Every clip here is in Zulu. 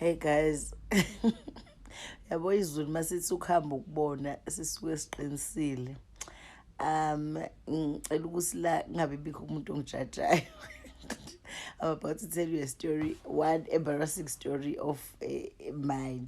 hey guys yabo izulu masithi ukuhamba ukubona sisuke siqinisile um ngicela ukuthi la kungabe bikho umuntu ongijajayo i'm about to tell you a story one embarrassing story of uh, mine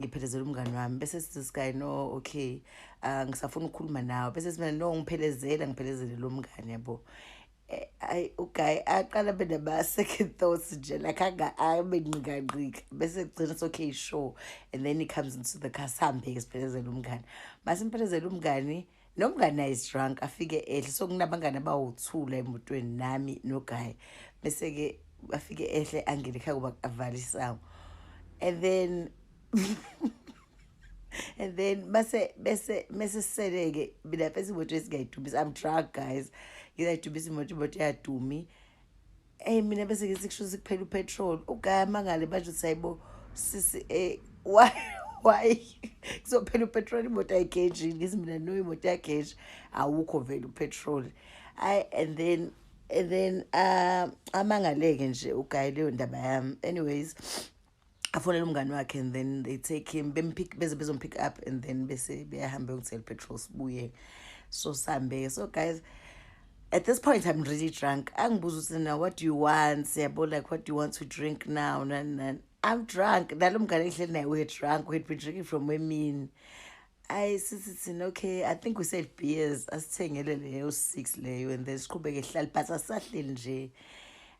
ngiphelezela umngani wami bese sithi sky no okay uh, ngisafuna ukukhuluma nawe bese simane no ngiphelezela ngiphelezele lo mngani yabo eh, ayi uguy aqala abe nama-second thoughts nje like abe nqikangqika bese kugcina so okay sure and then he comes into the car sihambe-ke siphelezela umngani masimphelezel umngani Nomngani naye is drunk afike ehle so kunabangani abawuthula emotweni nami noguy bese ke afike ehle angene ekhaya kuba avale isango and then and then base bese mese seleke mina bese imoto esingayidumisa i'm drunk guys ngizayidumisa imoto imoto yadumi eyi mina bese ngithi kusho ukuthi kuphela upetrol ugaya amangale manje uthi hayibo sisi um eh, why why kuzophela upetrol imoto ayigeji ngithi mina no imoto yageji awukho vele upetrol ayi and then and then um amangale-ke nje ugaya leyo ndaba yami anyways afonele umngane wakhe and then they take him bempick beze bezompick up and then bese beyahambe yokusela petrol sibuye so sambe so guys at this point i'm really drunk angibuza ukuthi now what do you want siyabo like what do you want to drink now nan nan i'm drunk nalo mngane engihleli naye we're drunk we'd been drinking from emini ayi sithi thina okay i think we said beers asithengele leyo six leyo and then siqhubeke hlali but asisahleli nje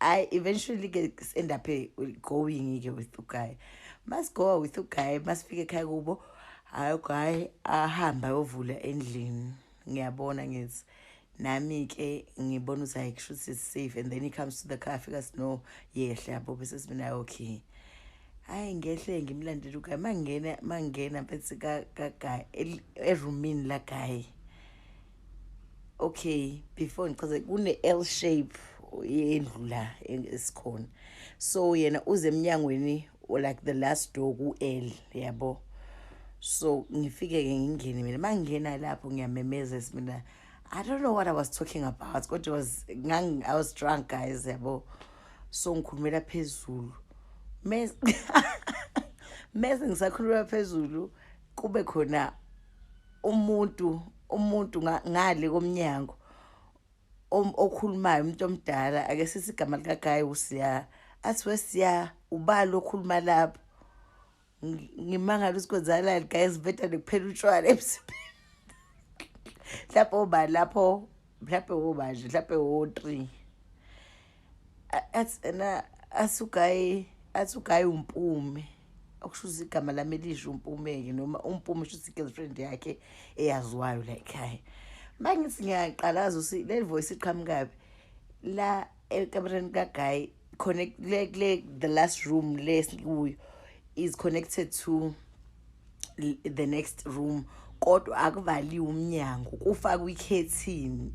I eventually get end up eh, going ke with the guy. Must go with the guy, must fike ekhaya kubo. Hayi guy ahamba ayovula endlini. Ngiyabona ngithi nami ke ngibona ukuthi hayi kusho ukuthi safe and then he comes to the car fika sino yehle yabo bese simina okay. Hayi ngehle ngimlandela uguy mangena mangena phethi ka ka guy eroomini la guy. okay before ngichaze kune-l shape yendlu la esikhona so yena uze emnyangweni like the last door ku-l yabo so ngifike-ke ngingene mina ma ngingena lapho ngiyamemeza mina i don't know what i was talking about kodwa was i was drunk guys yabo so ngikhulumela phezulu mese ngisakhulumela phezulu kube khona umuntu umuntu ngale komnyango okhulumayo umuntu omdala ake sithi igama likagayi usiya athi wesiya ubali okhuluma lapho ngimangala ukuthi kwenzakalani guys beta nekuphela utshwala emsipheni mhlawumbe oba lapho mhlawumbe wobanje mhlawumbe wo-three athi ena asugayi athi ugayi umpume okusho ukuthi igama lami elisho umpume-ke noma umpume sho ukuthi i-girlfriend yakhe eyaziwayo la ekhaya uma ngithi ngiyaqalaza ukuthi le voice iqhamukabi la ekamereni kagayi connect le kule the last room le sikuyo is connected to the next room kodwa akuvaliwe umnyango kufakwe ikhethini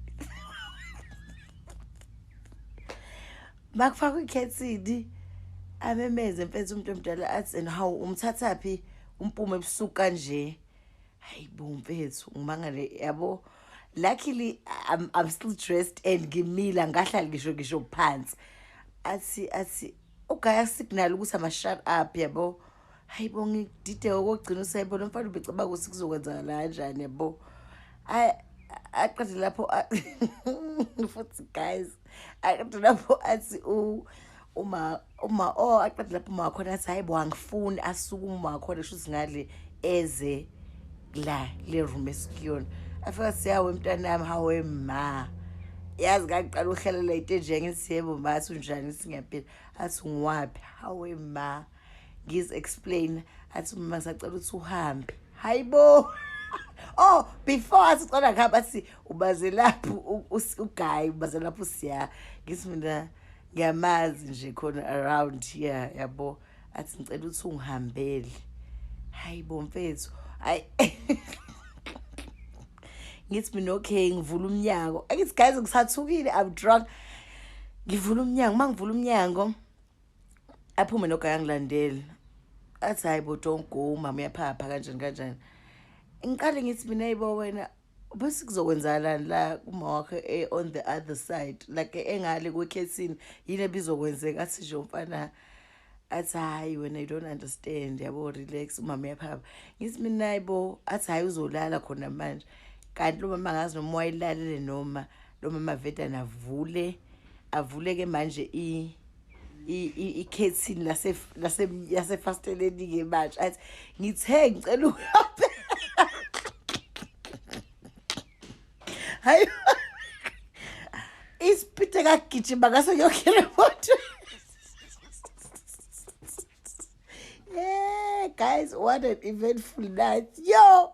makufakwe ikhethini amemeze mfethu umuntu omdala athi and how umthatha phi umpume ebusuku kanje hayi bo mfethu ngimangale yabo luckily I'm, I'm still dressed and ngimila ngahlala ngisho ngisho phansi athi athi ugaya signal ukuthi ama shut up yabo hayi bo ngidideka okokugcina usayibo lo mfana ubecaba ukuthi kuzokwenzakala kanjani yabo aqede lapho futhi guys aqede lapho athi uma uma o oh, aqede lapho uma wakhona athi hayi bo angifuni asuke uma wakhona shuthi ngale eze la le room esikuyona afika siyawe mntana yami hawe ma yazi ngaqala uhlalela into enjenge siyebo ma athi unjani singaphila athi ngiwaphi hawe ma ngiz explain athi mama ngisacela ukuthi uhambe hayibo oh before athi ucela ngihamba athi ubaze lapho u- us- uguy ubaze lapho usiya ngithi mina ngiyamazi nje khona around here yabo athi ngicela ukuthi ungihambele hayibo mfethu hayi ngithi mina okay ngivula umnyango angithi guys ngisathukile i'm drunk ngivula umnyango uma ngivula umnyango aphume nogaye angilandele athi hhayi bo don't go umama uyaphapha kanjani kanjani ngiqale ngithi mina yibo wena bese kuzokwenzakalani la kuma wakho eh, on the other side like engale kwekhethini yini ebizokwenzeka athi nje umfana athi hhayi wena you don't understand yabo relax umama uyaphapha ngithi mina yibo athi hhayi uzolala khona manje kanti lo mama angazi noma wayilalele noma lo mama vedana avule avuleke manje i ikhethini lase lase yase fasteleni ke manje athi ngithe ngicela uhambe hayi isipite kagijima ngaso yonke le moto yeah guys what an eventful night yo